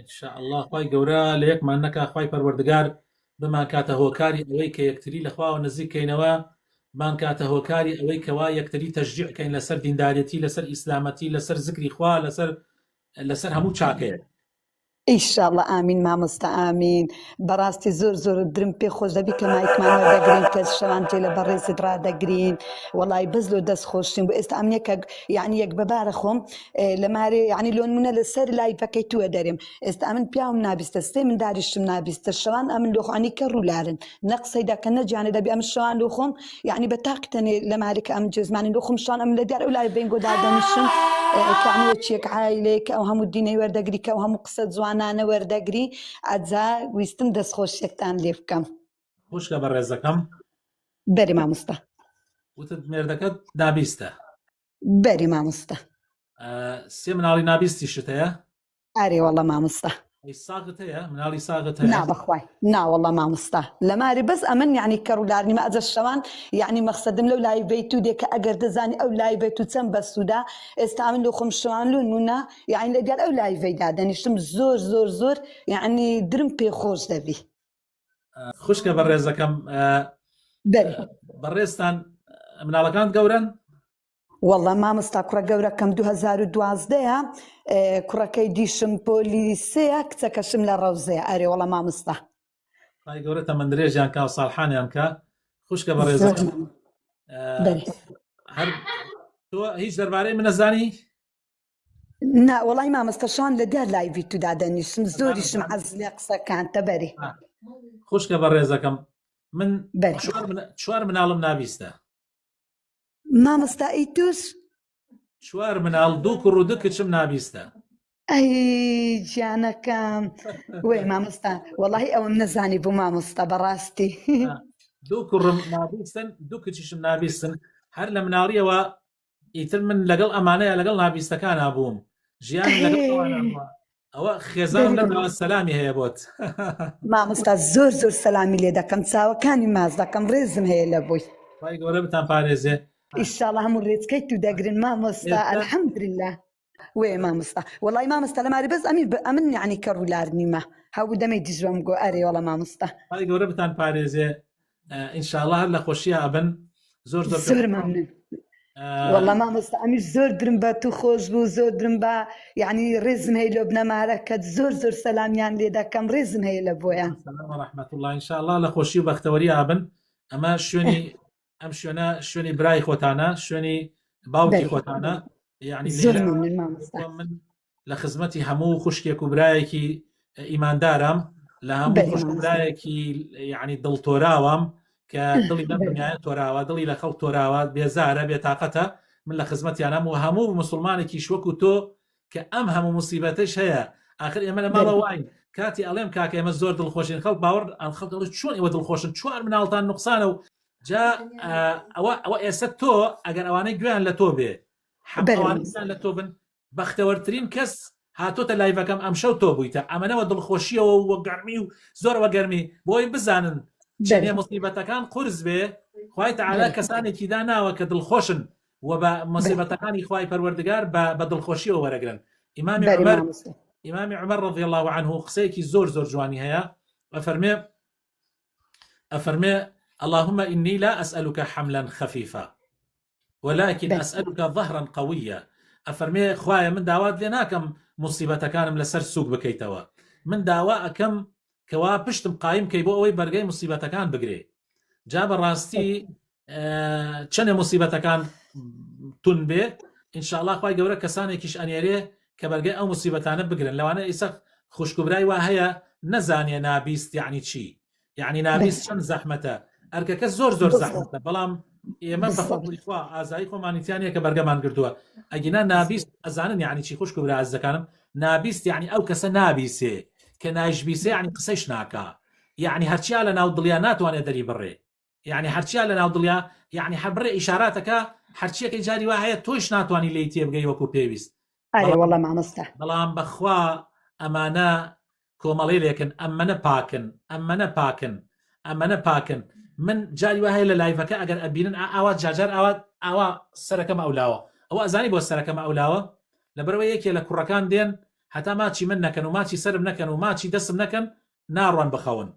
ان شاء اللە خوای گەورە لە یەکمان نەکا خوای پەروەردگار بمانکاتە هۆکاری ئەوەی کە یەکتری لە خواوە نزیک کەینەوە بانکاتە هۆکاری ئەوەی کەوا یەکتری تەشجیع کەین لەسەر دیندارەتی لەسەر ئیسلامەتی لەسەر زکری خوا لەسەر لەسەر هەموو چاکەیە ان شاء اللە ئامین مامۆستا ئامین. بەڕاستی زۆر زۆر درم پێ خۆش دەبی کە مایکمان وەردەگرین کە شەوان جێ لە بەڕێزت ڕادەگرین وەڵی بەس لۆ دەست خۆشتیم بۆ ئێستا ئەمنە کە یعنی یەک بەبارە خۆم لە مارێ یعنی لۆن منە لەسەر لای پەکەی تووە دەرێم ئێستا ئەمن پیاوم نابیستە سێ من داریشتم نابیستە شەوان ئەمن لۆخانی کە ڕوولارن نەقسەی دەکە نەجیانە دەبی ئەم شەوان لۆ خۆم یعنی بە تاقتەنێ لە مارێکە ئەم جێزمانی لۆ خۆم شان ئەم لە دیار ئەو لای بنگۆ دادەنیشم کە ئەمە چیەک عیلەیە کە ئەو هەموو دینەی وەردەگری کە ئەو هەموو قسە جوانانە وەردەگری ئەجا ویستم دەستخۆشیەکتان لێ بکەم. خوشکە بەڕێزەکەم بەری ماموستا وتت مێردەکەت نابیستە بەری ماموستا سێ مناڵی نابیستی شتەیە ئارێ وەڵە ماموستا ساغت هەیە مناڵی ساغت هەیە نابخوای ناوەڵە ماموستا لە ماری بەس ئەمن یعنی کە ڕوولارنیمە ئەجە شەوان یعنی مەخصدم لەو لای بیت و دێکە ئەگەر دەزانی ئەو لای بێت و چەند بەسوودا ئێستا من لو خم شوان لو نونە یعنی لەگەر ئەو لایڤەی دادەنیشتم زۆر زۆر زۆر یعنی درم پێ خۆش دەبی خوشکە بە ڕێزەکەم بەڕێزتان مناڵەکان گەورن وەڵە مامۆستا کوڕە گەورەکەم 2012ە کوڕەکەی دیشم پۆلی سەیە کچەکەشم لە ڕەوزەیە ئەرێ وەڵە مامۆستا خی گەورە تەمەند درێژیان کا و ساڵحانیان کە خوشکە بە ڕێز هەر تۆ هیچ دەربارەی منەزانی نا وەڵی مامەستە شان لە دەر لای ویتو دادەنیشم زۆریشم عەز لێ قسەکان تەبەری خوشکە بە ڕێزەکەم من چوار مناڵم نابیستە مامەستا ئی توش چوار مناڵ دوو کوڕ و دو کچم نابیستە ئەی گیانەکەم وی مامۆستا وەڵی ئەوم نەزانی بوو مامۆستا بەڕاستی دوو کوڕم نابیستن دوو کچیشم نابیستن هەر لە مناڵیەوە ئیتر من لەگەڵ ئەمانەیە لەگەڵ نابیستەکانا بووم ژیانم لەگەڵ ئەوانە بووە ئەوە خێزان دەری لە بڕۆ ناوە سەلامی هەیە بۆت مامۆستا زۆر زۆر سەلامی لێ دەکەم چاوەکانی ماچ دەکەم ڕێزم هەیە لە بۆی خی گەورە بتان پارێزێ ئیشاڵە هەموو ڕێچکەی تو دەگرن مامۆستا ئێستا ئەلحەمدللا وێ مامۆستا وەڵی مامۆستا لە ماری بەس ئەمین بە ئەمن یعنی کە ڕوولار نیمە هەبوو دەمەی دژۆم گۆ ئەرێ وەڵە مامۆستا خی گەورە بتان پارێزێ آه، ئینشاءاللە هەر لە خۆشیە ئەبن زۆر زۆر زۆر ممنون آه، والله مامۆستا ئەمیش زۆر درم بە تو خۆش بوو زۆر درم بە یعنی ڕێزم هەیە لۆ بنەمارەکەت زۆر زۆر سەلامیان لێ دەکەم ڕێزم هەیە لە بۆیان سلام و رحمت الله ان شاء الله لە خۆشی و بەختەوەری ئابن ئەمە شوێنی ئەم شوێنە شوێنی برای خۆتانە شوێنی باوکی خۆتانە یعنی من لە خزمەتی هەموو خوشکێک و برایەکی ئیماندارم لە هەموو خوشکبرایەکی یعنی دڵتۆراوام کە دڵی لەم دنیاە تۆراوە دڵی لە خەڵ تۆراوە بێزارە بێتاقەتە من لە خزمەتیانم و هەموو مسلمانێکی شوەک و تۆ کە ئەم هەموو موسیبەتەش هەیە ئاخر ئێمە لە ماڵە واین کاتی ئەڵێم کاکە ئێمە زۆر دڵخۆشین خەڵ باوەڕ ئەم خەڵکەڵ چۆن ئێوە دڵخۆشن چوار مناڵتان نقصانە و جا ئەوە ئەوە ئێستا تۆ ئەگەر ئەوانەی گوێیان لە تۆ بێ حەبوانستان لە تۆ بن بەختەوەرترین کەس هاتۆتە لایڤەکەم ئەم شەو تۆ بوویتە ئەمەەوە دڵخۆشیەوە وە گەرمی و زۆر وە گەرمی بۆی بزانن چێنێ مصیبەتەکان قرس بێ خی تعالا کەسانێکیدا ناوە کە دڵخۆشن و بە مصیبەتەکانی خوای پەروەردگار بە بە دڵخۆشیەوە وەرەگرن ئیمامی بەری عمر مامۆستا ئیمامی عمر رضی الله عنه قسەیەکی زۆر زۆر جوانی هەیە ئەفەرمێ ئەفەرمێ اللهم إني لا أسألك حملا خفيفا ولكن بەری أسألك ظهرا قويا ئەفەرمێ خوایە من داوات لێ ناکەم مصیبەتەکانم لەسەر سوک بکەیتەوە من داوا ئەکەم کەوا پشتم قایم کەی بۆ ئەوەی بەرگەی مصیبەتەکان بگرێ جا بەڕاستی بەری چەنێ مصیبەتەکان تون بێ انشاءله خی گەورە کەسانێکیش ئەنێرێ کە بەرگەی ئەو مصیبەتانە بگرن لەوانە ئیسە خوشکبرای وا هەیە نەزانێ نابیست یعنی چی یعنی نابیست چەند زەحمەتە ئەرکەکە زۆر زۆر زەحمەتە بەڵام ئێمە بەخوا ئازایی خۆمانیتیانە کە بەرگەمان گردووە ئەگینا نابیست ئەزانن یعنی چی خوشک برا ئەز دەکانم نابیست یعنی ئەو کەسە نابیسێ کە نایشبیسێ عنی قسەش ناکە یعنی هەرچیا لە ناو دڵیا ناتوانێت دەری بڕێ یەعنی هەرچیا لەناو دڵیە یەعنی هەر بڕێ ئیشاراتەکە هەرچیەکەی جاری وا هەیە تۆیش ناتوانی لێی تێبگەی وەکو پێویست ئەرێ وەڵا مامۆستا. بەڵام بەخوا ئەمانە کۆمەڵێلێکن ئەمەنە پاکن ئەمەنە پاکن ئەمەنە پاکن من جاری وا هەیە لە لایڤەکە ئەگەر ئەبینن ئا ئاوا جارجار ئاوا ئاوا سەرەکەمە ئەو لاوە ئەوە ئەزانی بۆ سەرەکەمە ئەو لاوە لەبەرەوە یەکێ لە کوڕەکان دێن هەتا ماچی من نەکەن و ماچی سەرم نەکەن و ماچی دەسم نەکەن ناڕۆن بخەون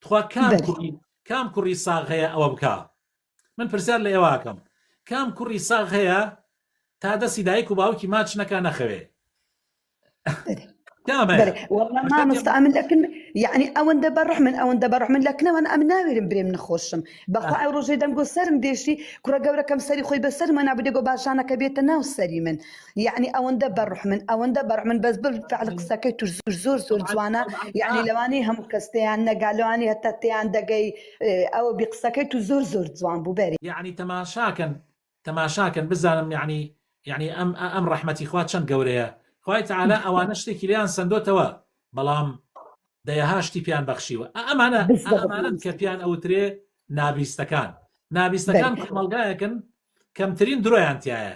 تخوا کام کوڕی کام کوڕی ساغ هەیە ئەوە بکە من پرسیار لە ئێواکەم کام کوڕی ساغ هەیە تا دەستی دایک و باوکی ماچ نەکە نەخەوێ مامۆستا ئەمن لەکن یعنی ئەوەندە بە ڕحمن ئەوەندە بە ڕحمن لەکنەوەن ئەم ناوێرم برێم نخۆشم بەخوا ئەو ڕۆژێ دەنگۆ سرم دێشتی کوڕە گەورەکەم سەری خۆی بەسەر مە نابدەگۆ باشانەکە بێتە ناو سەری من یەعنی ئەوەندە بەڕحمن ئەوەندە بەڕحمن بەس بالفعل قسەکەی توش زور زور زور جوانە یەعنی لەوانی هەموو کەس تێیان نەگا لەوانی هەتا تێیان دەگەی ئەوە بی قسەکەی تو زور زور جوان بوو بەری. یەعنی تەماشاکەن تەماشاکەن بزانم یەعنی یەعنی ئەم ئەم ڕەحمەتی خوا چەند گەورەیە خوای تعالی ئەوانە شتێکی لێیان سەندۆتەوە بەڵام دەیەها شتی پێیان بەخشیوە ئە ئەمانە ئە ئەمانەن کە پێیان ئەوترێ نابیستەکان نابیستەکان کۆمەڵگایەکن کەمترین درۆیان تایە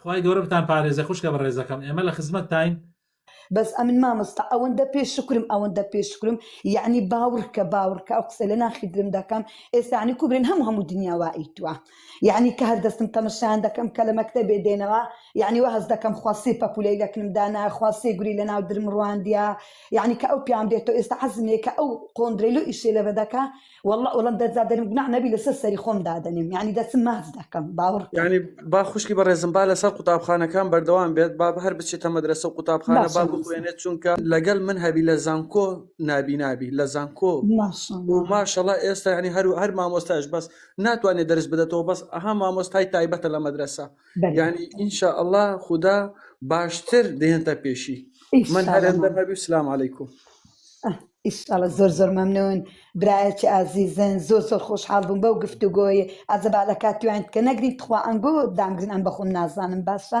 خوای گەورە بتان پارێزێ خوشکە بەڕێزەکەم ئێمە لە خزمەتتاین. بەس ئەمن مامۆستا ئەوەندە پێ شکرم ئەوەندە پێ شکرم یعنی باوڕکە باوڕکە ئەو قسە لە ناخی درم دەکەم ئێستانی کوبرێن هەموو هەموو دنیا وائیتوە یعنی کە هەر دەستم تەمەشان دەکەم کە لە مەکتە بێ دێنەوە یعنی وە هەز دەکەم خواسی پەپولەی لەکنم دانا خواسی گوری لە ناو درم ڕواندە یعنی کە ئەو پیان دێتەوە ئێستا عزمێکە ئەو قۆندرەی لۆ ئیشێ لە بەدەکە واللە ئۆڵەم دەست دادەنێم گوناح نەبی لەسەر سەری خۆم دادەنێم یعنی دەسم ماچ دەکەم باوەڕ بکە یعنی با خوشکی بەڕێزم با لەسەر قوتابخانەکان بەردەوام بێت با هەر بچێتە مەدرسە و قوتابخانە با ماشاءاللە بخوێنێت چونکە لەگەل من هەبی لە زانکۆ نابینابی لە زانکۆ و ماشاءاللە ماشەڵا ئێستا یعنی هەر هەر مامۆستایش بەس ناتوانێت دەرس بدەتەوە بەس ئەها مامۆستای تایبەتە لە مەدرسە بەرێ یعنی ان شاء الله خودا باشتر دێنتە پێشی من هەر ئینشاءاللە ئەندەم مام هەبی و سلام علیکم ئیشاڵە زۆر زۆر مەمنون برایەکی ئازیزن زۆر زۆر خۆشحاڵ بووم بەو گفتوگۆی ئازە با لە کاتیوان کە نەگرین تخوا ئەنگۆ دامگرن ئەم بەخۆم نازانم باشە.